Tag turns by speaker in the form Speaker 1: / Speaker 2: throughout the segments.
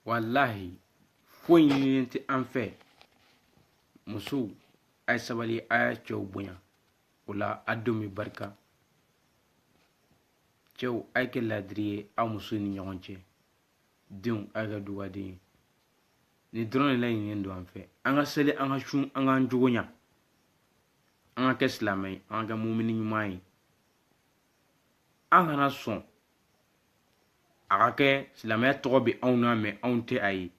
Speaker 1: walahi foyi ɲininen tɛ an fɛ musow a ye sabali a y'a cɛw bonya o la a denw bɛ barika cɛw a ye kɛ laadiri ye aw musow ni ɲɔgɔn cɛ denw a ye kɛ dugaden ye nin dɔrɔn de laɲininen don an fɛ an ka seli an ka sun an k'an jogo ɲa an ka kɛ silamɛ ye an ka kɛ mumini ɲuman ye an kana sɔn a ka kɛ silamɛya tɔgɔ bɛ anw na mais anw tɛ a ye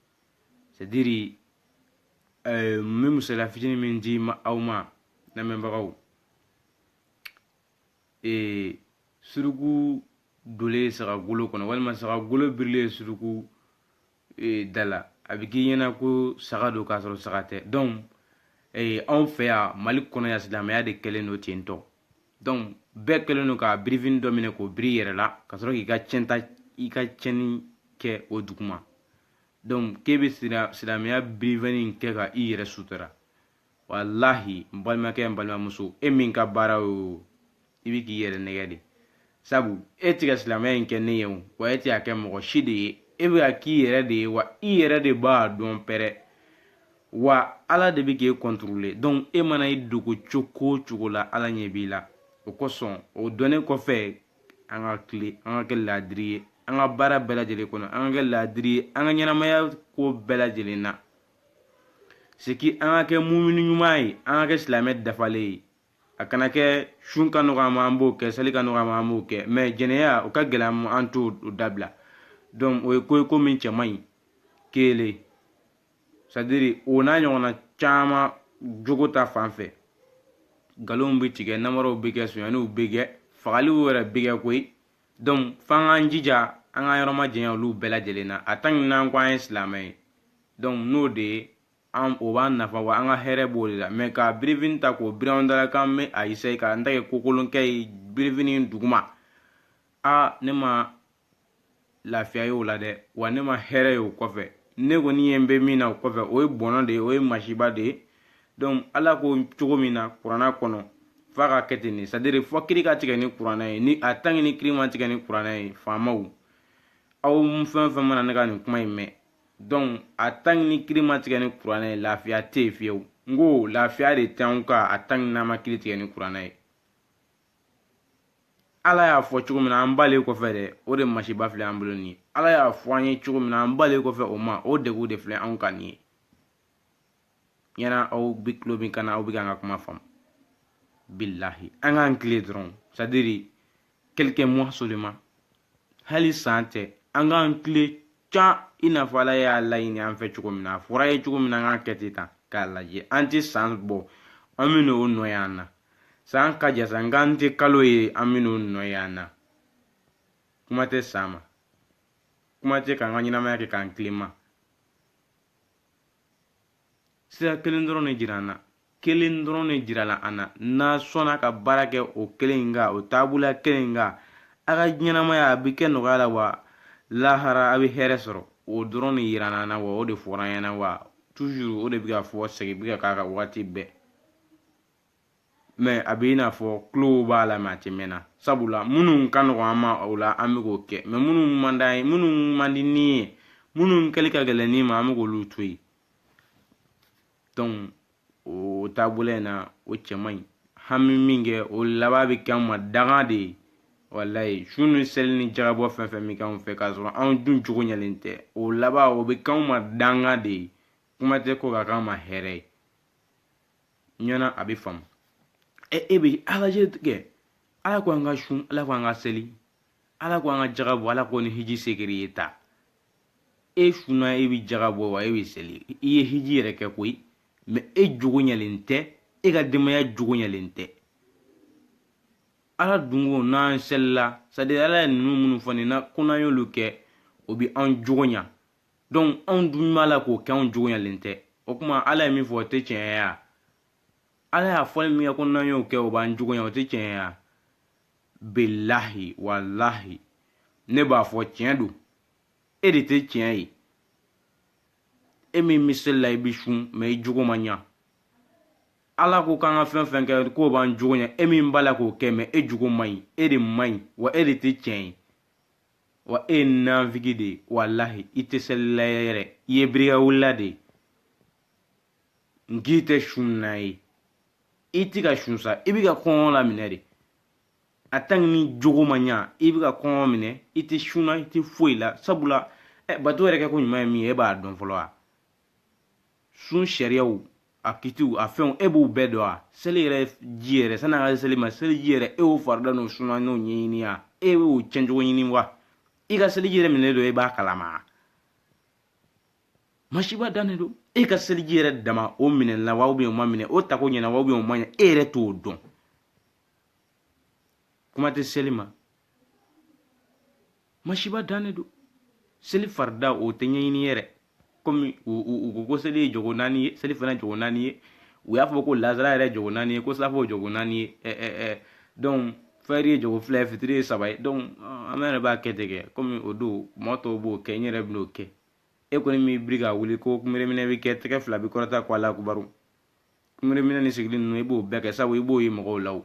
Speaker 1: c'est à dire eh, n bɛ misali fitinin min di aw ma lamɛnbagaw eh, suruku dolen saga golo kɔnɔ walima saga golo birilen suruku ee, da la a bɛ k'i ɲɛna ko saga don k'a sɔrɔ saga tɛ donc ee, anw fɛ yan mali kɔnɔ yan silamɛya de kɛlen don ten tɔ donc bɛɛ kɛlen don ka birifini dɔ minɛ k'o biri i yɛrɛ la ka sɔrɔ k'i ka cɛnta i ka cɛnni kɛ o duguma donc k'e bɛ silamɛya birifini kɛ ka i yɛrɛ sutura walahi n balimakɛ n balimamuso e min ka baara ye o i bɛ k'i yɛrɛ nɛgɛn de sabu e tɛ ka silamɛya in kɛ ne ye o wa e tɛ k'a kɛ mɔgɔ si de ye e bɛ k'a k'i yɛrɛ de ye wa i yɛrɛ de b'a dɔn pɛrɛ wa ala de bɛ k'e contrôler donc e mana i dogo cogo o cogo la ala ɲɛ b'i la o kosɔn o dɔnnen kɔfɛ an ka tilen an ka kɛ laadiri ye an ka baara bɛɛ lajɛlen kɔnɔ an ka kɛ laadiri ye an ka ɲɛnamaya ko bɛɛ lajɛlen na c'est que an ka kɛ mumini ɲuman ye an ka kɛ silamɛ dafalen ye a kana kɛ sun ka nɔgɔ an ma an b'o kɛ seli ka nɔgɔ an ma an b'o kɛ mais jɛnɛya o ka gɛlɛn an ma an t'o dabila donc o ye ko ye ko min cɛ man ɲi kelen c'est à dire o n'a ɲɔgɔnna caman jogo ta fan fɛ nkalonw bɛ tigɛ namaraw bɛ kɛ sonyaniw bɛ kɛ fagaliw yɛrɛ bɛ kɛ koyi donc f'an k'an jija an k'an yɔrɔ majanya olu bɛɛ lajɛlen na a tant que n'an ko an ye silamɛ ye donc n'o de ye o b'an nafa wa an ka hɛrɛ b'o de la mais ka birifini ta k'o biri anw da la k'an bɛ a essayer k'an ta kɛ kokolonkɛ ye birifini duguma a ne ma lafiya ye o la dɛ wa ne ma hɛrɛ ye o kɔfɛ ne kɔni ɲɛ bɛ min na o kɔfɛ o ye bɔnɔ de ye o ye masiba de ye donc ala ko cogo min na kuranna kɔnɔ f'a ka kɛ ten de c'est à dire fo kiri ka tigɛ ni kuranna ye ni a tant que ni kiri ma tigɛ ni kuranna ye faamaw aw fɛn o fɛn mana ne ka nin kuma in mɛn donc a tant que ni kiri ma tigɛ ni kuranna ye lafiya tɛ yen fiyewu n ko lafiya de tɛ anw kan a tant que n'an ma kiri tigɛ ni kuranna ye ala y'a fɔ cogo min na an b'ale kɔfɛ dɛ o de masiba filɛ an bolo nin ye ala y'a fɔ an ye cogo min na an b'ale kɔfɛ o ma o degun de filɛ anw kan nin ye ɲɛna aw bɛ tulo min kan na aw bɛ k'an ka kuma faamu bilahi an k'an tilen dɔrɔn c'est-à-dire quelques mois seulement hali san tɛ an k'an tilen can i n'a fɔ ala y'a laɲini an fɛ cogo min na a fɔr'an ye cogo min na an k'a kɛ ten tan k'a lajɛ an tɛ san bɔ an bɛ n'o nɔ ye an na san ka jan sa nk'an tɛ kalo ye an bɛ n'o nɔ ye an na kuma tɛ san ma kuma tɛ k'an ka ɲɛnamaya kɛ k'an tilen ma sira kelen dɔrɔn de jira an na kelen dɔrɔn de jirala an na n'a sɔnna ka baara kɛ o kelen in kan o taabolo kelen in kan a ka ɲɛnamaya a bɛ kɛ nɔgɔya la wa lahara a bɛ hɛrɛ sɔrɔ o dɔrɔn de jira an na wa o de fɔra an ɲɛna wa toujours o de bɛ ka fɔ segin bɛ ka k'a kan waati bɛɛ mais a bɛ i n'a fɔ tulo b'a la mais a tɛ mɛn na sabula minnu ka nɔgɔn an ma o la an bɛ k'o kɛ mais minnu man d'an ye minnu man di ni ye minnu kɛli ka gɛlɛn ni ma an bɛ k'olu to yen o taabolo in na o cɛ man ɲi an bɛ min kɛ o laban bɛ kɛ an ma danga de ye walayi sun ni seli ni jagabɔ fɛn fɛn bɛ k'anw fɛ k'a sɔrɔ anw dun jogo ɲɛlen tɛ o laban o bɛ k'anw ma danga de ye kuma tɛ k'o ka k'an ma hɛrɛ ye ɲɛna a bɛ faamu ɛ e bɛ a lajɛ kɛ ala ko an ka sun ala ko an ka seli ala ko an ka jaga bɔ ala ko ni hiji se kɛr'i ye taa e sunna e bɛ jaga bɔ wa e bɛ seli i ye hiji yɛrɛ kɛ koyi mais e jogo ɲɛlen tɛ e ka denbaya jogo ɲɛlen tɛ ala dun ko n'an selila c'est-à-dire ala ye ninnu minnu fɔ nin na ko n'an y'olu kɛ o bɛ an jogo ɲa donc anw dun b'a la k'o kɛ anw jogo ɲɛlen tɛ o tuma ala ye min fɔ o tɛ tiɲɛ ye wa ala y'a fɔli min kɛ ko n'an y'o kɛ o b'an jogo ɲa o tɛ tiɲɛ ye wa bilahi walahi ne b'a fɔ tiɲɛ don e de tɛ tiɲɛ ye e min bɛ seli la i bɛ sun mais i jogo ma ɲa ala ko k'an ka fɛn fɛn kɛ k'o b'an jogo ɲa e min b'a la k'o kɛ mais e jogo man ɲi e de man ɲi wa e de tɛ tiɲɛ ye wa e ye nanfigi de ye walahi i tɛ selila yɛrɛ i ye birikawulila de ye n k'i tɛ sunna ye i ti ka sun sa i bi ka kɔngɔ la minɛ de en tant que n'i jogo ma ɲa i bi ka kɔngɔ minɛ i ti sunna i ti foyi la sabula eh, bato yɛrɛ kɛko ɲuman ye min ye e b'a dɔn fɔlɔ wa sun sariyaw a kitiw a fɛnw e b'u bɛɛ dɔn wa seli yɛrɛ ji yɛrɛ sanni an ka seli ma seliji yɛrɛ e y'o farida n'o suna n'o ɲɛɲini wa e y'o cɛncogo ɲini wa i ka seliji yɛrɛ minɛ don e b'a kalama masiba dannen don e ka seliji yɛrɛ dama o minɛla wa ou bien o ma minɛ o tako ɲɛna wa ou bien o ma ɲɛ e yɛrɛ t'o dɔn kuma tɛ seli ma masiba dan de don seli farida o tɛ ɲɛɲini yɛrɛ komi u ko ko seli ye jɔko naani ye selifana jɔko naani ye u y'a fɔ ko lansara yɛrɛ jɔko naani ye ko saafo jɔko naani ye ɛ ɛ ɛ donc fɛri ye jɔko fila ye fitiri ye saba ye donc an yɛrɛ b'a kɛ ten kɛ komi o don mɔgɔ tɔw b'o kɛ n yɛrɛ bɛn'o kɛ e kɔni b'i biri ka wuli ko kunbereminɛ bɛ kɛ tɛgɛ fila bɛ kɔrɔta ko ala kubaru kunbereminɛ ni sigili ninnu i b'o bɛɛ kɛ sabu i b'o ye mɔgɔw la o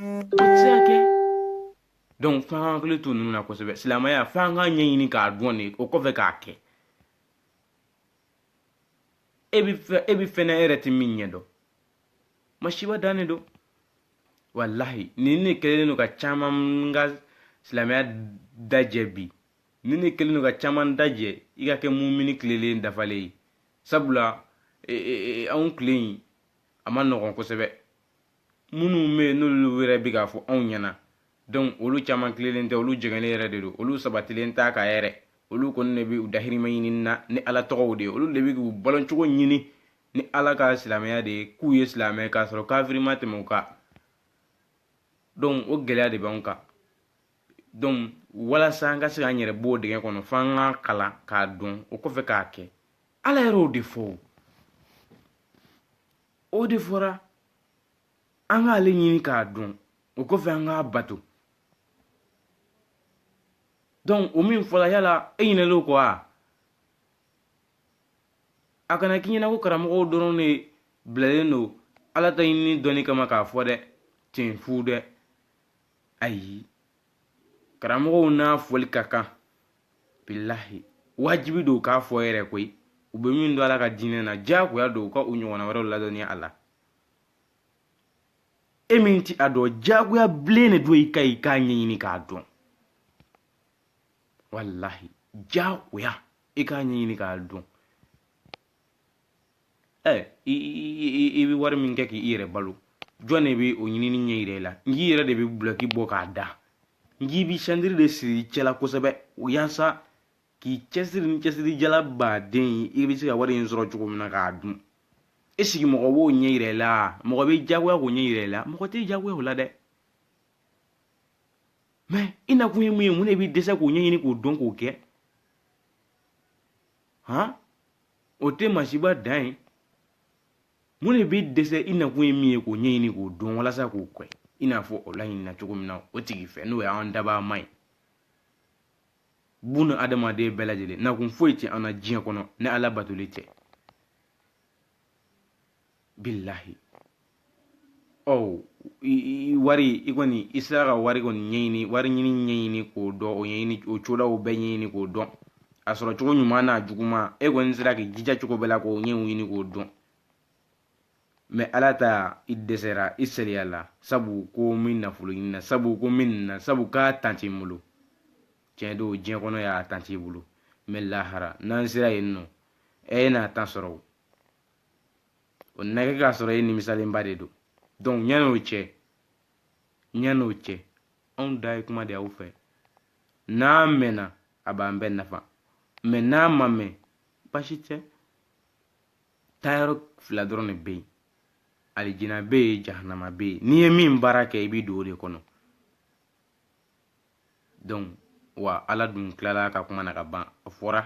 Speaker 1: o tɛ se ka kɛ donc f'an k'an hakili to ninnu na kosɛbɛ silamɛya f'an k'a ɲɛɲini k'a dɔn de o kɔfɛ k'a kɛ e bɛ fɛn na e yɛrɛ tɛ min ɲɛ dɔn masiba dan de don walahi nin de kɛlen don ka caman ka silamɛya dajɛ bi nin de kɛlen don ka caman dajɛ i ka kɛ mumini tilelen dafalen ye sabula e, e, e, anw tile in a man nɔgɔn kosɛbɛ minnu bɛ yen n'olu yɛrɛ bɛ k'a fɔ anw ɲɛna donc olu caman tilelen tɛ olu jɛngɛlen yɛrɛ de don olu sabatilen t'a kan yɛrɛ olu kɔni de bɛ u dahirimɛ ɲini na ni ala tɔgɔ de ye olu de bɛ k'u baloncogo ɲini ni ala ka silamɛya de ye k'u ye silamɛ ye k'a sɔrɔ kafiri ma tɛmɛ u kan donc o gɛlɛya de b'anw kan donc walasa an ka se k'an yɛrɛ b'o dingɛ kɔnɔ f'an k'a kalan k'a dɔn o kɔfɛ k'a kɛ ala yɛrɛ y'o de fɔ o o de fɔra an k'ale ɲini k'a dɔn o kɔfɛ an k'a bato donc o min fɔla yala e ɲinɛlen o kɔ wa a kana k'i ɲɛna ko karamɔgɔw dɔrɔn de bilalen don ala ta ɲinini dɔnni kama k'a fɔ dɛ ten fu dɛ ayi karamɔgɔw n'a fɔli ka kan bilahi wajibi don k'a fɔ yɛrɛ koyi u bɛ min dɔn ala ka diinɛ na diyagoya don u ka u ɲɔgɔnna wɛrɛw ladɔnniya a la e min ti a dɔn diyagoya bilen de don i ka i k'a ɲɛɲini k'a dɔn walahi diyagoya i k'a ɲɛɲini k'a dɔn ɛ i bɛ wari min kɛ k'i yɛrɛ balo jɔn de bɛ o ɲinini ɲɛ yira i la n k'i yɛrɛ de bɛ dulɔki bɔ k'a da n k'i bɛ santiri de siri i cɛ la kosɛbɛ yaasa k'i cɛsiri ni cɛsirijala baden ye i bɛ se ka wari in sɔrɔ cogo min na k'a dun e sigi mɔgɔ b'o ɲɛ yira i la mɔgɔ bɛ diyagoya k'o ɲɛ yira i la mɔgɔ tɛ diyagoya o la dɛ mɛ i nakun ye mun ye mun de b'i dɛsɛ k'o ɲɛɲini k'o dɔn k'o kɛ han o tɛ masiba dan ye mun de b'i dɛsɛ i nakun ye min ye k'o ɲɛɲini k'o dɔn walasa k'o kɛ i n'a fɔ o laɲinina cogo min na o tigi fɛ n'o y'an dabaa ma ye buna adamaden bɛɛ lajɛlen nakun foyi tɛ an na diɲɛ kɔnɔ ni ala batoli tɛ bilahi ɔ wari i kɔni i sera ka wari kɔni ɲɛɲini wari ɲini ɲɛɲini k'o dɔn o ɲɛɲini o cogoyaw bɛɛ ɲɛɲini k'o dɔn a sɔrɔ cogo ɲuman n'a juguman e kɔni sera k'i jija cogo bɛɛ la k'o ɲɛɲini k'o dɔn mɛ ala ta i dɛsɛra i sariya la sabu ko n bɛ nafolo ɲini na sabu ko n bɛ nin na sabu k'a tan t'i bolo tiɲɛ don diɲɛ kɔnɔ yan a tan t'i bolo mɛ lahara n'an sera yen nɔ e n'a tan sɔrɔ o na kɛ k'a sɔrɔ e nimisalenba de don donc yan n'o cɛ yan n'o cɛ anw ta ye kuma de aw fɛ n'a mɛnna a b'an bɛɛ nafa mɛ n'a ma mɛn basi tɛ taayɔrɔ fila dɔrɔn de bɛ yen alijina bɛ yen jahanama bɛ yen n'i ye min baara kɛ i b'i don o de kɔnɔ donc wa ala dun tilala ka kuma na ka ban a fɔra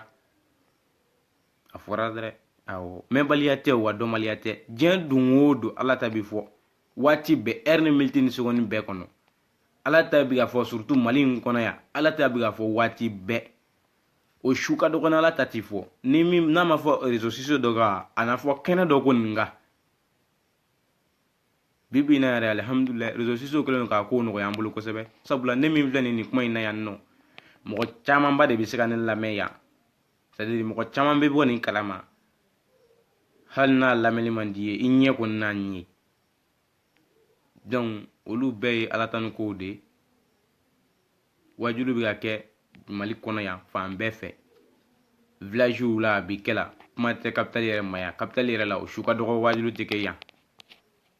Speaker 1: a fɔra dɛrɛ awɔ mɛnbaliya tɛ wa dɔnbaliya tɛ diɲɛ don o don ala ta bi fɔ waati bɛɛ ɛri ni miniti ni segɔni bɛɛ kɔnɔ ala ta bi ka fɔ surtout mali in kɔnɔ yan ala ta bi ka fɔ waati bɛɛ o su ka dɔgɔ ala ta ti fɔ ni min n'a ma fɔ rezo sosiyo dɔ kan a na fɔ kɛnɛ dɔ kɔni kan bi bi in na yɛrɛ alihamudulilayi rezo sosiyo kɛlen don k'a kow nɔgɔya an bolo kosɛbɛ sabula ne min filɛ nin nin kuma in na yan nɔ mɔgɔ camanba de bɛ se ka ne lamɛn yan sadiri mɔgɔ caman bɛ bɔ nin kalama hali n'a lamɛnni man d'i ye i ɲɛ kɔni n'a ye donc olu bɛɛ ye ala tanu kow de ye wajulu bɛ ka kɛ mali kɔnɔ yan fan bɛɛ fɛ vilaziw la a bɛ kɛ la kuma tɛ kapitali yɛrɛ ma yan kapitali yɛrɛ la o su ka dɔgɔ wajulu tɛ kɛ yan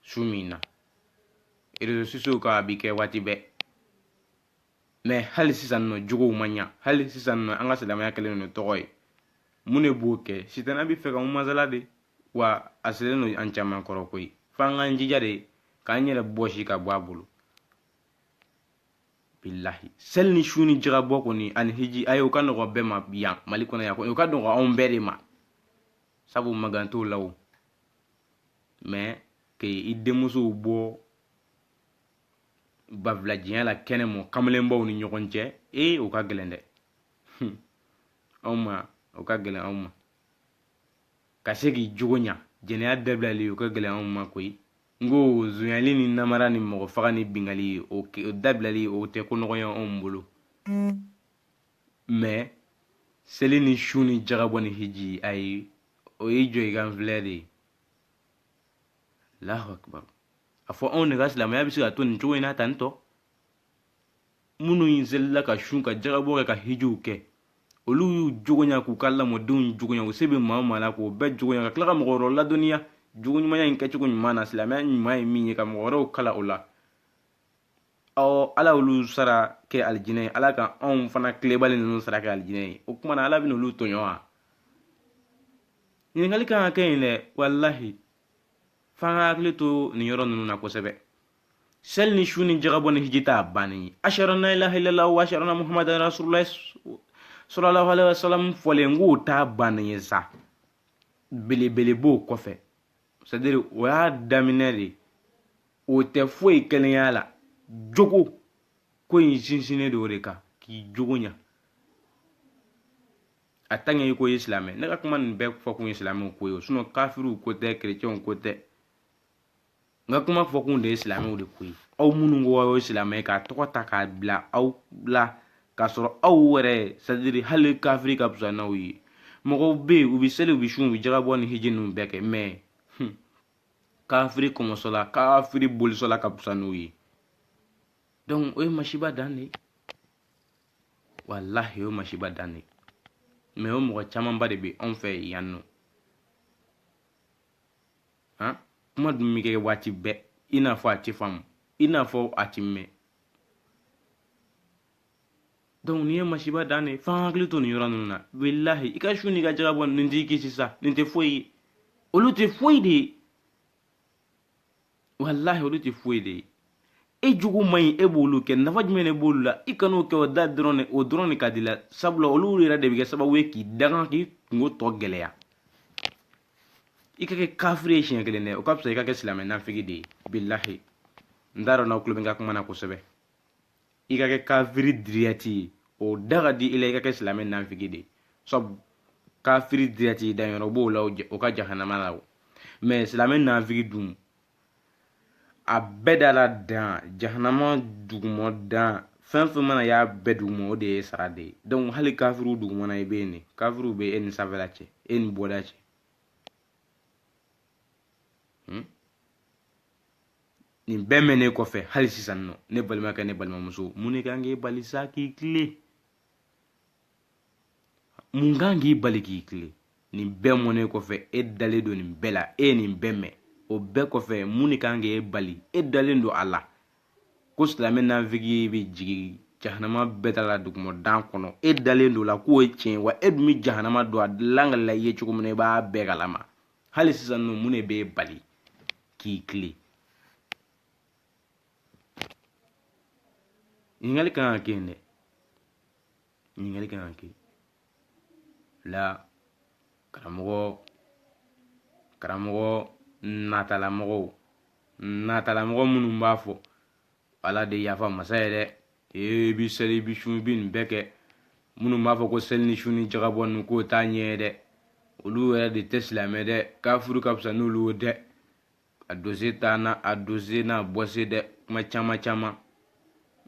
Speaker 1: su min na rezo sosiyow kan a bɛ kɛ waati bɛɛ mɛ hali sisan nɔ jogow ma ɲa hali sisan nɔ an ka silamɛya kɛlen don tɔgɔ ye mun de b'o kɛ sitana bɛ fɛ ka masala de wa a selen don an caman kɔrɔ koyi f'an k'an jija de k'an yɛrɛ bɔsi ka bɔ a bolo bilahi seli ni sun ni jagabɔ kɔni ani hiji ayi o ka nɔgɔ bɛɛ ma yan mali kɔnɔ yan kɔni o ka nɔgɔ anw bɛɛ de ma sabu magan t'o la o mɛ k'i denmusow bɔ babilajiya la kɛnɛ ma kamalenbaw ni ɲɔgɔn cɛ ee o ka gɛlɛn dɛ anw ma o ka gɛlɛn anw ma ka se k'i jogo ɲa jɛnɛya dabilali o ka gɛlɛn anw ma koyi n ko zonyali ni namara ni mɔgɔ faga ni bingali o dabilali o tɛ ko nɔgɔya anw bolo mɛ seli ni sun ni jagabɔ ni hiji ayi o ye jɔ i ka n filɛ de ye allahu akibaru a fɔ anw de ka silamɛya bɛ se ka to nin cogo in na tantɔ minnu in selila ka sun ka jagabɔ kɛ ka hijiw kɛ olu y'u jogo ɲa k'u ka lamɔdenw jogo ɲa u se bɛ maa o maa la k'o bɛɛ jogo ɲa ka tila ka mɔgɔ wɛrɛw ladɔnniya jogo ɲumanya in kɛcogo ɲuman na silamɛya ɲuman ye min ye ka mɔgɔ wɛrɛw kalan o la aw ala y'olu sara kɛ alijinɛ ye ala ka anw fana tilenbali ninnu sara kɛ alijinɛ ye o kuma na ala bɛna olu tɔɲɔ wa ɲininkali kan ka kɛ yen dɛ walahi f'an ka hakili to nin yɔrɔ ninnu na kosɛbɛ seli ni sun ni jagabɔ ni hiji t'a bannen ye ashhadu an la ilaha illallah wa ashhadu anna muhammadan rasulullah sallallahu alaihi wasallam fɔlen k'o t'a bannen ye sa belebele b'o kɔfɛ c'est à dire o y'a daminɛ de o tɛ foyi kɛlen y'a la jogo ko in sinsinnen don o de kan k'i jogo ɲa a tant que i ko i ye silamɛ ne ka kuma nin bɛɛ fɔ kun ye silamɛw ko ye o sinon kafiriw ko tɛ kerecɛnw ko tɛ n ka kuma fɔkun de ye silamɛw de ko ye aw minnu ko aw ye silamɛ k'a tɔgɔ ta k'a bila aw la k'a sɔrɔ aw yɛrɛ c'est à dire hali kafiri ka fisa n'aw ye mɔgɔw bɛ yen u bɛ seli u bɛ sun u bɛ jagabɔ ni hiji ninnu bɛɛ kɛ mais kafiri kɔmɔsɔnna kafiri bolisɔnna ka fisa n'u ye donc o ye masiba dan de ye walahi o ye masiba dan de ye mais o mɔgɔ camanba de bɛ anw fɛ yan nɔ han kuma dun bɛ kɛ waati bɛɛ i n'a fɔ a tɛ faamu i n'a fɔ a tɛ mɛn donc nin ye masiba dan de f'an hakili to nin yɔrɔ ninnu na walahi i ka sun n'i ka jagabɔ nin t'i kisi sa nin tɛ foyi ye olu tɛ foyi de ye walahi olu tɛ foyi de ye e jogo man ɲi e b'olu kɛ nafa jumɛn de b'olu la i kan'o kɛ o da dɔrɔn de o dɔrɔn de ka di i la sabula olu yɛrɛ de bɛ kɛ sababu ye k'i danga k'i kunko tɔ gɛlɛya i ka kɛ kafiri ye siɲɛ kelen dɛ o ka fisa i ka kɛ silamɛ nafigi de ye bilahi n t'a dɔn n'aw tulo bɛ n ka kuma na kosɛbɛ i ka kɛ kafiri direct ye o da ka di i la i ka kɛ silamɛ nafigi de ye sabu kafiri direct danyɔrɔ b'o la o ka jahanama la o mais silamɛ nafigi dun a bɛɛ da la dan jahanama dugumɔ dan fɛn o fɛn mana y'a bɛɛ dugumɔ o de y'e sara de ye donc hali kafiriw dugumana i bɛ yen de kafiriw bɛ e ni sanfɛla cɛ e ni bɔda cɛ hmm? nin bɛɛ mɛnnen kɔfɛ hali sisan nɔ ne balimakɛ ne balimamuso mun de kan k'e bali sa k'i tilen mun kan k'i bali k'i tilen nin bɛɛ mɔnen kɔfɛ e dalen don nin bɛɛ la e ye nin bɛɛ mɛn o bɛɛ kɔfɛ mun de kan k'e bali e dalen don a la ko silamɛ nanfigi bɛ jigin jahanama bɛɛ da la duguma dan kɔnɔ e dalen don a la k'o ye tiɲɛ wa e dun bɛ jahanama dɔn a dilan ka la i ye cogo min na i b'a bɛɛ kalama hali sisan ninnu mun de b'e bali k'i tilen ɲininkali kan ka kɛ yen dɛ ɲininkali kan ka kɛ la karamɔgɔ karamɔgɔ natalamɔgɔw natalamɔgɔ minnu b'a fɔ ala de yafa masa ye dɛ ee i bi seli i bi sun i bi nin bɛɛ kɛ minnu b'a fɔ ko seli ni sun ni jakabɔ ninnu k'o t'a ɲɛ ye dɛ olu yɛrɛ de tɛ silamɛ dɛ kafuru ka fisa n'olu ye dɛ a doze taa na a doze na bɔse dɛ kuma caman caman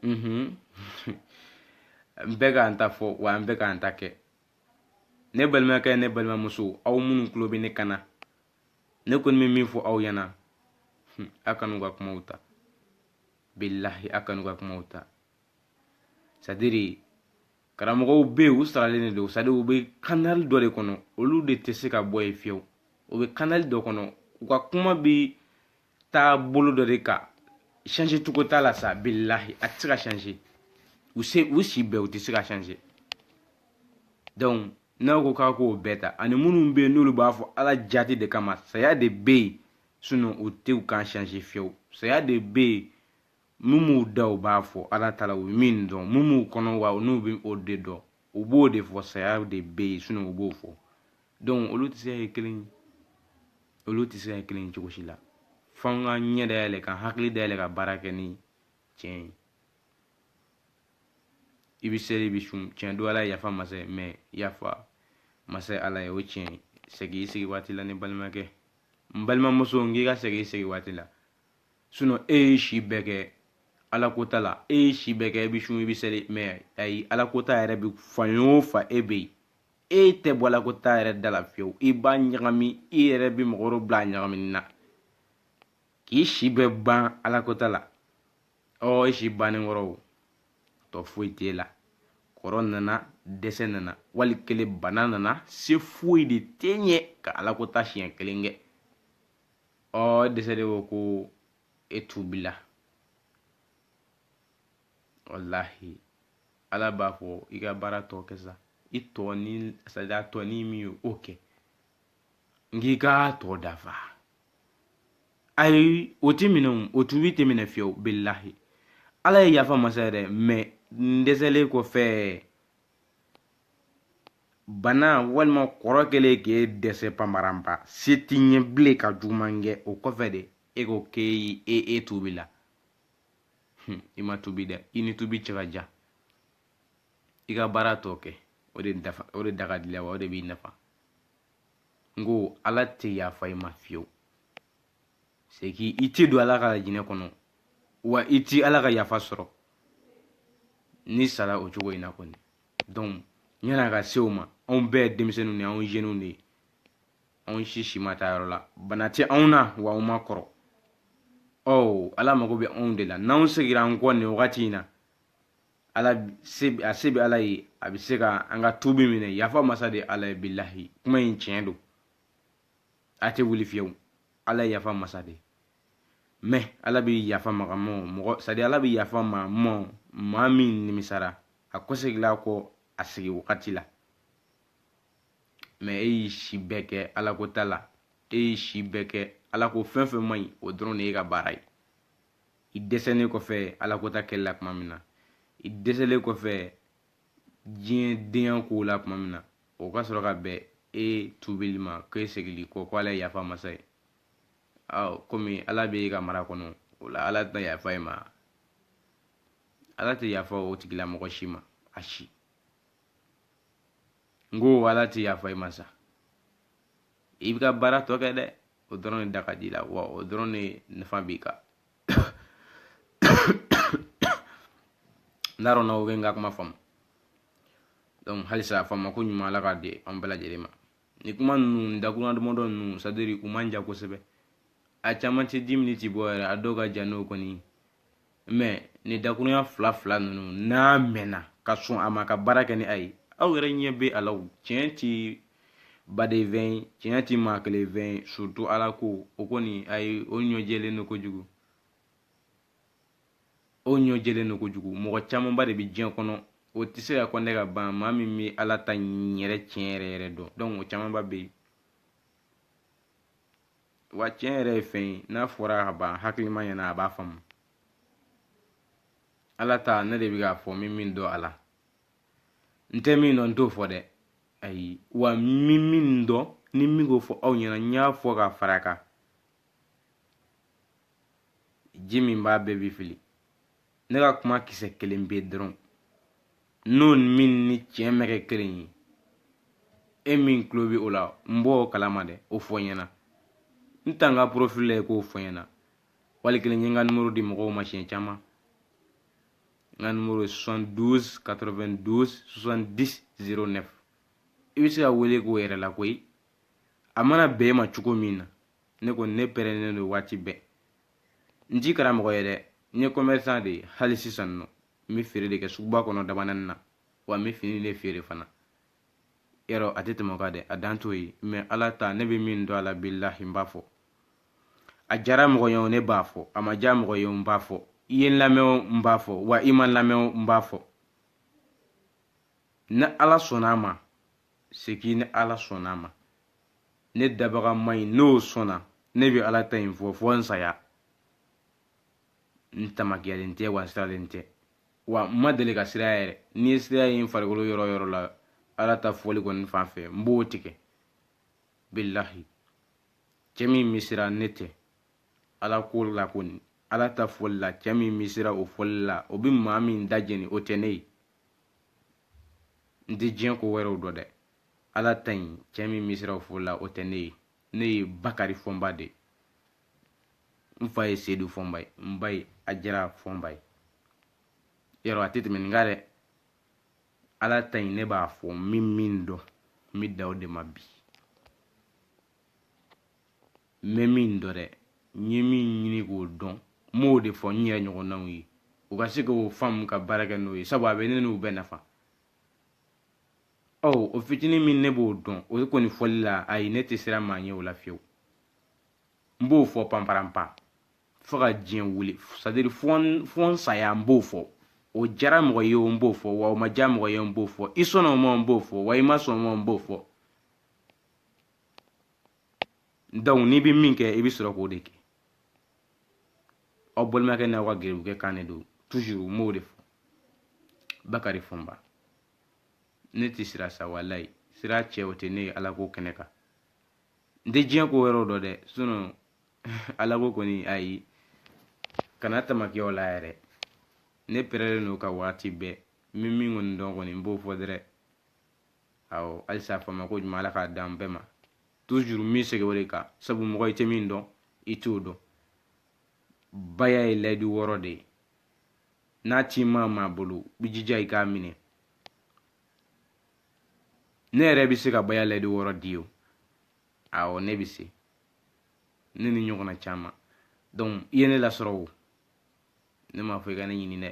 Speaker 1: mhm n bɛ k'an ta fɔ wa an bɛ k'an ta kɛ ne balimakɛ ne balimamuso aw minnu tulo bɛ ne kan na ne kɔni bɛ min fɔ aw ɲɛna a kan'u ka kumaw ta bilahi a kan'u ka kumaw ta c'est-à-dire karamɔgɔw bɛ yen u saralen de don c'est-à-dire u bɛ kanali dɔ de kɔnɔ olu de tɛ se ka bɔ yen fiyewu u bɛ kanali dɔ kɔnɔ u ka kuma bɛ taa bolo dɔ de kan changer cogo t'a la sa bilahi a tɛ se ka changer u se u si bɛɛ u tɛ se ka changer donc n'aw ko k'a k'o bɛɛ ta ani minnu bɛ yen n'olu b'a fɔ ala jati de kama saya de bɛ yen sinon u tɛ u kan changer fiyewu saya de bɛ yen min b'u da u b'a fɔ ala ta la u min dɔn min b'u kɔnɔ wa n'u bɛ o de dɔn u b'o de fɔ saya de bɛ yen sinon u b'o fɔ donc olu tɛ se ka kɛ kelen ye olu tɛ se ka kɛ kelen ye cogo si la f'an ka ɲɛ dayɛlɛ ka hakili dayɛlɛ ka baara kɛ ni tiɲɛ ye i bɛ seli i bɛ sun tiɲɛ don ala yafa masa ye mais yafa masa ala ye o tiɲɛ ye segin i se waati la ne balimakɛ n balimamuso n k'i ka segin i se waati la sinon e ye si bɛɛ kɛ ala ko ta la e ye si bɛɛ kɛ e bɛ sun i bɛ seli mais ayi ala ko ta yɛrɛ bɛ fan o fan e bɛ yen e tɛ bɔ ala ko ta yɛrɛ da la fiyewu i b'a ɲagami i yɛrɛ bɛ mɔgɔ wɛrɛw bila a ɲagamini na k'i si bɛɛ ban ala ko ta la ɔ e si bannen kɔrɔ o tɔ foyi t'e la kɔrɔ nana dɛsɛ nana wali kelen bana nana se foyi de t'e ye ka ala ko ta siɲɛ kelen kɛ ɔ dɛsɛlen kɔ ko e tubila walahi ala b'a fɔ i ka baara tɔ kɛ sa i tɔ ni c'est-à-dire a tɔ ni min ye o kɛ n k'i ka tɔ dafa ayi o ti minɛ o tubi tɛ minɛ fiyewu bilahi ala ye yafa masa yɛrɛ mais n dɛsɛlen kɔfɛ bana walima kɔrɔ kɛlen k'e dɛsɛ panparanpa se t'i ye bilen ka juguman kɛ o kɔfɛ de e ko k'e e e tubila i ma tubi dɛ i ni tubi cɛ ka jan i ka baara tɔ kɛ o de dafa o de da ka d'i la wa o de b'i nafa n ko ala tɛ yafa i ma fiyewu c'est que i tɛ don ala ka lajinɛ kɔnɔ wa i tɛ ala ka yafa sɔrɔ n'i sara o cogo in na kɔni donc yan'a ka se o ma anw bɛɛ ye denmisɛnninw de ye anw jeunes de ye anw si si ma taa yɔrɔ la bana tɛ anw na wa anw ma kɔrɔ ɔ ala mago bɛ anw de la n'anw segira an kɔ nin wagati in na ala se a se bɛ ala ye a bɛ se ka an ka tubi minɛ yafa masa de ala ye bilahi kuma in tiɲɛ don a tɛ wuli fiyewu ala ye yafa masa de ye mais ala bɛ yafa maga mɔ mɔgɔ c'est-à-dire ala bɛ yafa ma mɔ maa min nimisara a kɔsegila kɔ a segi wagati la mais e y'i si bɛɛ kɛ ala ko ta la e y'i si bɛɛ kɛ ala ko fɛn fɛn man ɲi o dɔrɔn de y'e ka baara ye i dɛsɛlen kɔfɛ ala ko ta kɛli la tuma min na i dɛsɛlen kɔfɛ diɲɛ denya kow la tuma min na o ka sɔrɔ ka bɛn e tubili ma k'e segil'i kɔ ko ala ye yafa masa ye komi ala bɛ e ka mara kɔnɔ o la ala tɛna yafa e ma ala tɛ yafa o tigilamɔgɔ si ma a si n ko ala tɛ yafa e ma sa i b'i ka baara tɔ kɛ dɛ o dɔrɔn de da ka d'i la wa o dɔrɔn de nafa b'i kan n t'a dɔn n'aw bɛ n ka kuma faamu donc halisa a faamu ko ɲuman ala k'a di an bɛɛ lajɛlen ma ni kuma ninnu dakurunya damadɔ ninnu c'est-à-dire u man jan kosɛbɛ a caman tɛ dix minutes bɔ yɛrɛ a dɔw ka jan n'o kɔni mais ni dakurunya fila fila ninnu n'a mɛnna ka sɔn a ma ka baara kɛ ni a ye aw yɛrɛ ɲɛ bɛ a la tiɲɛ ti baden fɛn ye tiɲɛ ti maa kelen fɛn ye surtout ala ko o kɔni a ye o ɲɔjɛlen don kojugu o ɲɔjɛlen don kojugu mɔgɔ camanba de bɛ diɲɛ kɔnɔ o tɛ se ka compter ka ban maa min bɛ ala ta yɛrɛ tiɲɛ yɛrɛ yɛrɛ dɔn donc o camanba bɛ yen wa tiɲɛ yɛrɛ ye fɛn ye n'a fɔra ka ban hakilima ɲɛna a b'a faamu ala ta ne de bɛ k'a fɔ n bɛ min dɔn a la n tɛ min dɔn n t'o fɔ dɛ ayi wa n bɛ min dɔn ne bɛ k'o fɔ aw ɲɛna n y'a fɔ ka fara kan ji min b'a bɛɛ bi fili ne ka kuma kisɛ kelen pe dɔrɔn n'o min ni tiɲɛ ma kɛ kelen ye e min tulo bɛ o la n b'o kalama dɛ o fɔ n ɲɛna n taa n ka profil la yen k'o fɔ n ɲɛna wali kelen n ye n ka nimoro di mɔgɔw ma siɲɛ caman n ka nimoro ye 72 92 70 09 i bɛ se ka wele k'o yɛrɛ la koyi a mana bɛn e ma cogo min na ne kɔni ne pɛrɛnnen don waati bɛɛ n ti karamɔgɔ ye dɛ n ye commerçant de ye hali sisan nɔ n bɛ feere de kɛ suguba kɔnɔ dabanani na wa n bɛ fini de feere fana yɔrɔ a tɛ tɛmɛ o kan dɛ a dan t'o ye mɛ ala ta ne bɛ min dɔn a la bilahi n b'a fɔ a diyara mɔgɔ ye o ne b'a fɔ a ma diya mɔgɔ ye o n b'a fɔ i ye n lamɛn o n b'a fɔ wa i ma n lamɛn o n b'a fɔ ni ala sɔnna a ma c'est que ni ala sɔnna a ma ne dabaga ma in n'o sɔnna ne bɛ ala ta in fɔ fo n saya n tamakiyalen tɛ wa n sirannen tɛ wa n ma deli ka siran yɛrɛ n'i ye siran ye n farikolo yɔrɔ o yɔrɔ la ala ta fɔli kɔni fan fɛ n b'o tigɛ bilahi cɛ min bɛ siran ne tɛ ala ko la kɔni ala ta fɔli la cɛ min bɛ siran o fɔli la o bɛ maa min da jeni o tɛ ne ye n tɛ diɲɛ ko wɛrɛw dɔn dɛ ala ta in cɛ min bɛ siran o fɔli la o tɛ ne ye ne ye bakari fɔnba de ye n fa ye sedu fɔnba ye n ba ye ajara fɔnba ye yɔrɔ a tɛ tɛmɛ nin kan dɛ ala ta in ne b'a fɔ n bɛ min dɔn n bɛ dan o de ma bi n bɛ min dɔn dɛ n ye min ɲini k'o dɔn n b'o de fɔ n yɛrɛ ɲɔgɔnnaw ye u ka se k'o faamu ka baara kɛ n'o ye sabu a bɛ ne n'u bɛɛ nafa ɔ o fitinin min ne b'o dɔn o kɔni fɔli la ayi ne tɛ siran maa ɲɛ o la fiyewu n b'o fɔ panparanpan fo ka diɲɛ wuli c'est à dire fo n saya n b'o fɔ o diyara mɔgɔ ye o n b'o fɔ wa o ma diya mɔgɔ ye n b'o fɔ i sɔnna o ma n b'o fɔ wa i ma sɔn o ma n b'o fɔ donc n'i bɛ min kɛ i bɛ sɔrɔ k'o de kɛ aw balimakɛ n'aw ka gɛrɛbukɛ kan de don toujours n b'o de fɔ bakari fɔnba ne tɛ siran sa walayi siran cɛ o tɛ ne ye ala ko kɛnɛ kan n tɛ diɲɛ ko wɛrɛw dɔn dɛ sinon ala ko kɔni ayi kana tamaki o la yɛrɛ ne pɛrɛlen don ka waati bɛɛ n bɛ min kɔni dɔn kɔni n b'o fɔ dɛrɛ awɔ halisa faamu ko ɲuman ala k'a d'an bɛɛ ma toujours n bɛ segin o de kan sabu mɔgɔ i tɛ min dɔn i t'o dɔn baya ye layidu wɔɔrɔ de ye n'a tɛ maa min bolo i jija i k'a minɛ ne yɛrɛ bɛ se ka baya layidu wɔɔrɔ di o awɔ ne bɛ se ne ni ɲɔgɔnna caman donc i ye ne lasɔrɔ o ne m'a fɔ i ka ne ɲini dɛ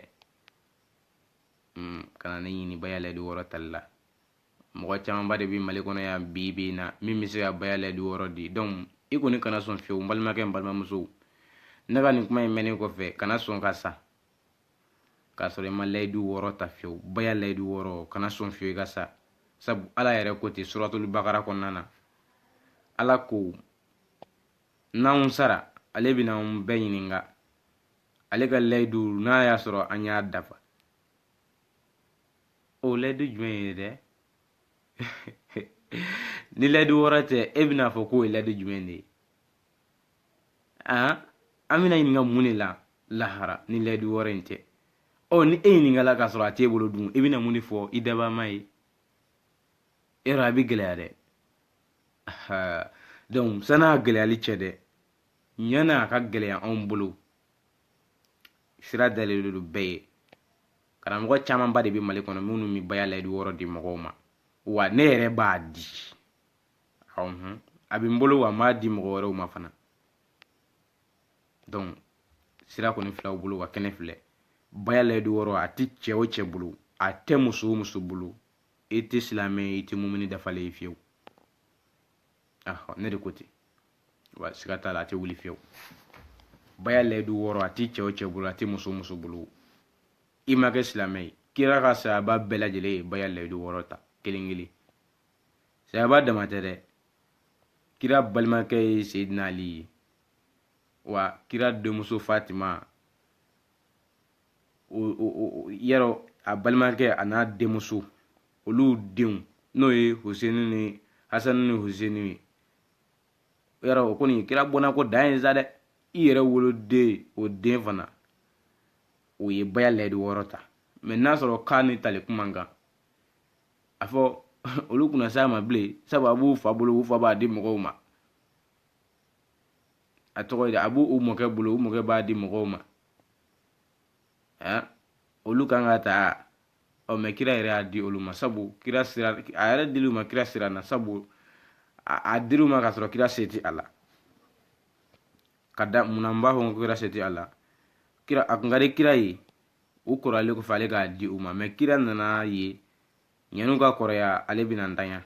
Speaker 1: kana ne ɲini baya layidu wɔɔrɔ tali la mɔgɔ camanba de bɛ mali kɔnɔ yan bi bi in na min bɛ se ka baya layidu wɔɔrɔ di donc i kɔni kana sɔn fiyewu n balimakɛ n balimamuso ne ka nin kuma in mɛnnen kɔfɛ kana sɔn ka sa k'a sɔrɔ i ma layidu wɔɔrɔ ta fiyewu baya layidu wɔɔrɔ kana sɔn fiyewu i ka sa sabu ala yɛrɛ ko ten suratulu bakara kɔnɔna na ala ko n'anw sara ale bɛna anw bɛɛ ɲininka ale ka layidu n'a y'a sɔrɔ an y'a dafa o layidu jumɛn ye dɛ ni layidu wɔɔrɔ tɛ e bɛna fɔ k'o ye layidu jumɛn de ye an an bɛna ɲininka mun de la lahara ni layidu wɔɔrɔ in tɛ ɔ ni e ɲininkala k'a sɔrɔ a t'e bolo dun i bɛna mun de fɔ i dabaa ma ye yɔrɔ a bɛ gɛlɛya dɛ donc san'a gɛlɛyali cɛ dɛ yan'a ka gɛlɛya anw bolo sira dalen don bɛɛ ye karamɔgɔ camanba de bɛ mali kɔnɔ minnu bɛ baya layidu wɔɔrɔ di mɔgɔw ma wa ne yɛrɛ b'a di ɔhun a bɛ n bolo wa n b'a di mɔgɔ wɛrɛw ma fana donc sira kɔni fil'aw bolo wa kɛnɛ filɛ baya layidu wɔɔrɔ a tɛ cɛ o cɛ bolo a tɛ muso o muso bolo i tɛ silamɛ i tɛ mumini dafalen ye fiyewu ne de ko ten wa siga t'a la a tɛ wuli fiyewu baya layidu wɔɔrɔ a tɛ cɛ o cɛ bolo a tɛ muso o muso bolo i ma kɛ silamɛ ye kira ka sayaba bɛɛ lajɛlen ye baya layidu wɔɔrɔ ta kelen kelen sayaba dama tɛ dɛ kira balimakɛ ye seyidina ali ye wa kira denmuso fatima o yɛrɛ a balimakɛ a n'a denmuso olu denw n'o ye hoseni ni hasani ni hoseni ye yɔrɔ o kɔni kira bɔnna ko dan ye sa dɛ i yɛrɛ woloden o den fana o ye baya layidu wɔɔrɔ ta mɛ n'a sɔrɔ k'a ni tali kun man kan a fɔ olu kun na s'a ma bilen sabu a b'u fa bolo u fa b'a di mɔgɔw ma a tɔgɔ ye a b'u u mɔkɛ bolo u mɔkɛ b'a di mɔgɔw ma eh, olu kan k'a ta ɔ mɛ kira yɛrɛ y'a di olu ma sabu kira sira a yɛrɛ dil'u ma kira sira na sabu a dir'u ma k'a sɔrɔ kira se ti a la ka da munna n b'a fɔ ko kira se ti a la kira a kun ka di kira ye u kɔrɔlen kɔfɛ ale k'a di u ma mɛ kira nan'a ye yan'u ka kɔrɔya ale bɛna ntanya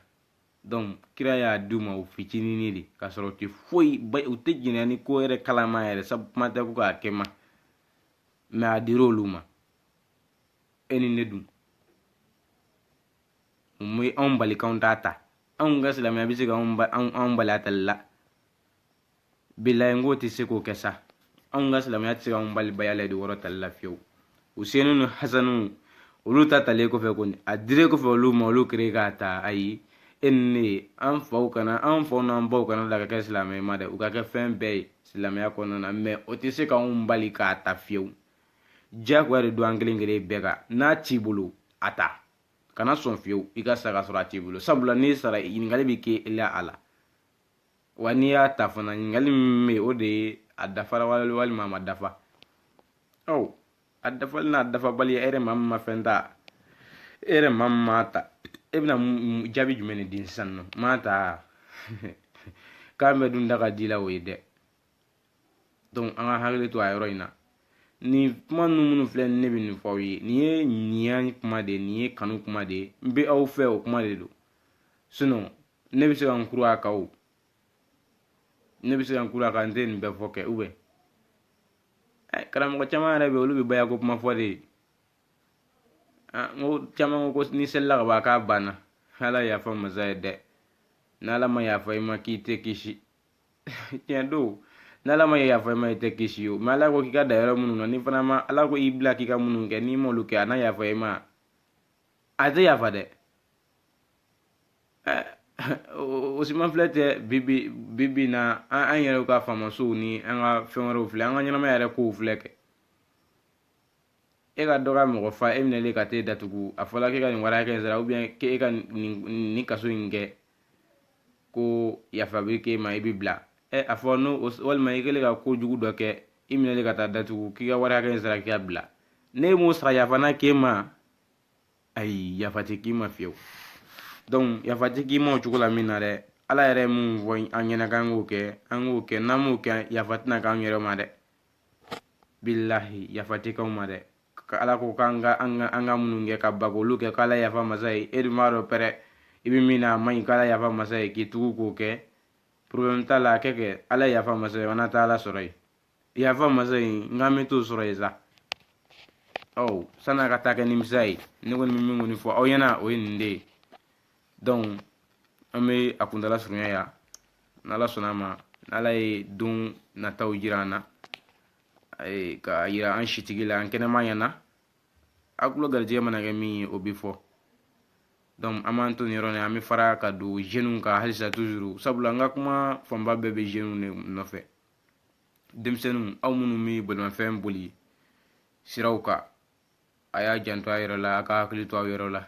Speaker 1: donc kira y'a di u ma u fitinini de k'a sɔrɔ u tɛ foyi u tɛ jiɲɛ nin ko yɛrɛ kalama yɛrɛ sabu kuma tɛ ko k'a kɛ ma mɛ a dira olu ma e ni ne dun mun bɛ anw bali k'anw t'a ta anw ka silamɛya bɛ se ka anw bali a tali la bilayi n k'o tɛ se k'o kɛ sa anw ka silamɛya tɛ se k'anw bali baya layidu wɔɔrɔ tali la fiyewu usenu ni hasanu olu ta talen kɔfɛ kɔni a dire kɔfɛ olu ma olu kere k'a ta ayi e ni ne ye an faw kana an faw n'an baw kana la ka kɛ silamɛ ma dɛ u ka kɛ fɛn bɛɛ ye silamɛya kɔnɔna na mɛ o tɛ se k'anw bali k'a ta fiyewu diyagoya de don an kelen kelen bɛɛ kan n'a t'i bolo a ta kana sɔn fiyewu i ka sa ka sɔrɔ a t'i bolo sabula n'i sara ɲininkali bɛ kɛ i la a la wa n'i y'a ta fana ɲininkali min bɛ yen o de ye a dafara walima a ma dafa ɔ a dafali n'a dafabali e yɛrɛ maa min ma fɛn ta e yɛrɛ maa min ma ta e bɛna jaabi jumɛn de di sisan nɔ m'a ta k'an bɛ dun da ka di la o ye dɛ donc an ka hakili to a yɔrɔ in na nin kuma ninnu minnu filɛ ne bɛ nin fɔ aw ye nin ye ɲiya kuma de ye nin ye kanu kuma de ye n bɛ aw fɛ o kuma de don ne bɛ se ka n kuru a kan o ne bɛ se ka n kuru a kan n tɛ nin bɛɛ fɔ kɛ ou bien ɛ karamɔgɔ caman yɛrɛ bɛ yen olu bɛ baya ko kuma fɔ de n ko caman ko ni selila ka ban k'a banna ala yafa masa ye dɛ n'ala ma yafa i ma k'i tɛ kisi tiɲɛ don n'ala ma yafa i ma i tɛ kisi o mɛ ala ko k'i ka dan yɔrɔ minnu na n'i fana ma ala ko i bila k'i ka minnu kɛ n'i m'olu kɛ a na yafa i ma a tɛ yafa dɛ o si ma filɛ tɛ bibi bibi na an an yɛrɛw ka faamasow ni an ka fɛn wɛrɛw filɛ an ka ɲɛnamaya yɛrɛ kow filɛ kɛ e ka dɔ ka mɔgɔ fa e minɛlen ka t'e datugu a fɔla k'e ka nin wari hakɛ in sara ou bien k'e ka nin nin kaso in kɛ ko yafa bɛ k'e ma i bɛ bila ɛ a fɔ n'o walima i kɛlen ka ko jugu dɔ kɛ i minɛlen ka taa datugu k'i ka wari hakɛ in sara k'i ka bila n'e m'o sara yafa na k'e ma ayi yafa tɛ k'i ma fiyewu donc yafa tɛ k'i ma o cogo la min na dɛ ala yɛrɛ ye mun fɔ an ɲɛna k'an k'o kɛ an k'o kɛ n'an m'o kɛ yafa tɛna k'an yɛrɛ ma dɛ bilahi yafa tɛ k'anw ma dɛ ka ala ko k'an ka an ka an ka minnu kɛ ka ban k'olu kɛ k'ala yafa masa ye e dun b'a dɔn pɛrɛ i bɛ min na a man ɲi k'ala yafa masa ye k'i tugu k'o kɛ problème t'a la a kɛ kɛ ala yafa masa ye an na taa ala sɔrɔ yen yafa masa in n k'an bɛ t'o sɔrɔ yen sa ɔ san'a ka taa kɛ nimisa ye ne kɔni bɛ min kɔni fɔ aw ɲɛna o ye nin de ye donc an bɛ a kuntala surunya yan n'ala sɔnn'a ma n'ala ye don nataw jira an na ka yira an sitigi la an kɛnɛma ɲɛna a tulo garijɛgɛ mana kɛ min ye o bɛ fɔ donc an b'an to nin yɔrɔ nin an bɛ fara ka don jeunes kan halisa toujours sabula n ka kuma fanba bɛɛ bɛ jeunes de nɔfɛ denmisɛnninw aw minnu bɛ bolimafɛn boli siraw kan a y'a janto a yɛrɛ la a ka hakili to aw yɛrɛ la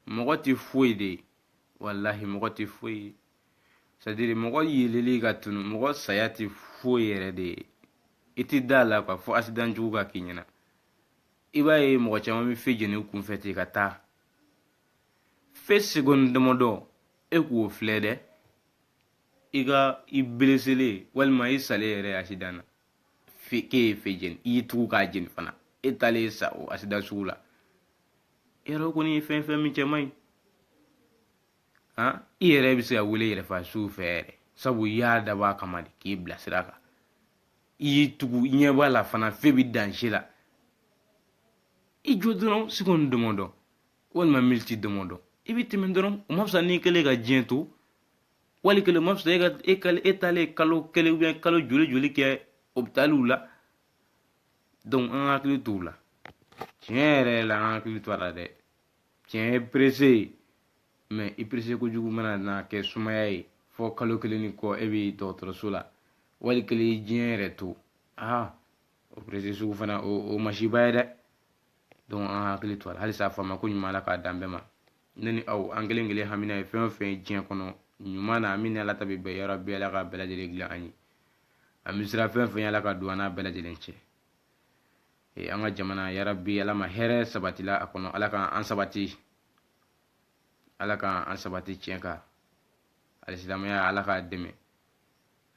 Speaker 1: mɔgɔ tɛ foyi de ye walahi mɔgɔ tɛ foyi ye sadiri mɔgɔ yeleli ka tunu mɔgɔ saya tɛ foyi yɛrɛ de ye i tɛ da a la kuwa fo asidan jugu ka k'i ɲɛna i b'a ye mɔgɔ caman bɛ fe jeni kunfɛ ten ka taa fe segoni damadɔ e k'o filɛ dɛ i ka i beleselen walima i salen yɛrɛ asidan na k'e ye fe jeni i y'i tugu k'a jeni fana e taalen sa o asidan sugu la yɛrɛ kɔni ye fɛn fɛn min cɛ man ɲi han i yɛrɛ bɛ se ka wele yɛrɛfa suw fɛ yɛrɛ sabu i y'a dabɔ a kama de k'i bila sira kan i y'i tugu i ɲɛ b'a la fana fe bɛ danze la i jɔ dɔrɔn segoni damadɔ walima miniti damadɔ i bɛ tɛmɛ dɔrɔn o ma fisa n'i kɛlen ka diɲɛ to wali kelen ma sɔrɔ e ka e ka e taalen kalo kelen ubiyɛn kalo joli joli kɛ opitaliw la donc an ka hakili to o la tiɲɛ yɛrɛ la an ka hakili to a la dɛ tiɲɛ ye perese ye mɛ i perese kojugu mana na kɛ sumaya ye fo kalo kelen ni kɔ e bɛ dɔgɔtɔrɔso la wali kelen i diɲɛ yɛrɛ to aa o perese sugu fana o o masiba ye dɛ donc an ka hakili to a la halisa a faamuko ɲuman ala k'a d'an bɛɛ ma ne ni aw an kelen kelen hamina ye fɛn o fɛn ye diɲɛ kɔnɔ ɲuman na min ni ala ta bɛ bɛn yarabi ala ka bɛɛ lajɛlen dilan an ye an bɛ siran fɛn fɛn ala ka don an n'a bɛɛ lajɛlen cɛ ee an ka jamana yarabi ala ma hɛrɛ sabatila a kɔnɔ ala k'an sabati ala k'an an sabati tiɲɛ kan alisilamɛya ala k'a dɛmɛ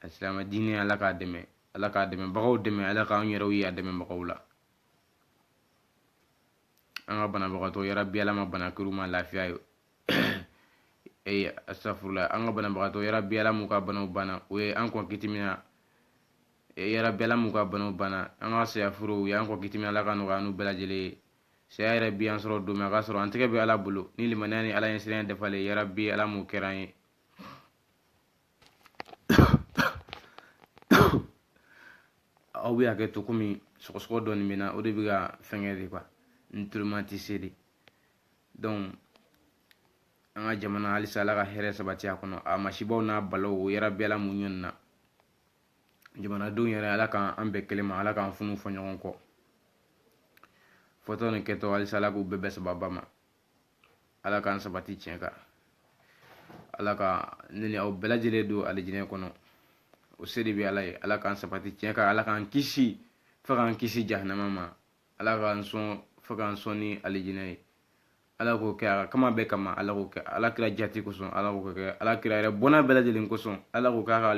Speaker 1: alisilama diinɛ ala k'a dɛmɛ ala k'a dɛmɛbagaw dɛmɛ ala k'an yɛrɛw ye a dɛmɛbagaw la an ka banabagatɔ yarabi ala ma bana kɛr'u ma lafiya ye ee asafurula an ka banabagatɔ yarabi ala m'u ka banaw banna u ye an kɔn kiti min na yarabi ala m'u ka banaw banna an ka saya furew u y'an kɔn kiti min ala k'a nɔgɔya n'u bɛɛ lajɛlen ye saya yɛrɛ b'an sɔrɔ don min a ka sɔrɔ an tɛgɛ bɛ ala bolo ni limaniya ni ala ɲɛsiranya dafalen yarabi ala m'o kɛra an ye aw bɛ hakɛ to komi sɔgɔsɔgɔ dɔɔni bɛ n na o de bɛ ka fɛnkɛ de kuwa n tuloma tɛ se de donc an ka jamana halisa ala ka hɛrɛ sabati a kɔnɔ a masibaw n'a balaw o yarabi ala m'u ɲɔnina jamanadenw yɛrɛ ala k'an an bɛn kelen ma ala k'an funu fɔ ɲɔgɔn kɔ fɔtɔ ni kɛtɔ halisa ala k'u bɛɛ bɛn sababa ma ala k'an sabati tiɲɛ kan ala ka ne ni aw bɛɛ lajɛlen don alijinɛ kɔnɔ o se de bɛ ala ye ala k'an sabati tiɲɛ kan ala k'an kisi fo k'an kisi jahanama ma ala k'an sɔn fo k'an sɔn ni alijinɛ ye ala k'o kɛ a ka kama bɛɛ kama ala k'o kɛ ala kira jati kosɔn ala k'o kɛ ala kira yɛrɛ bɔnna bɛɛ lajɛlen kosɔn ala k'o k'a ka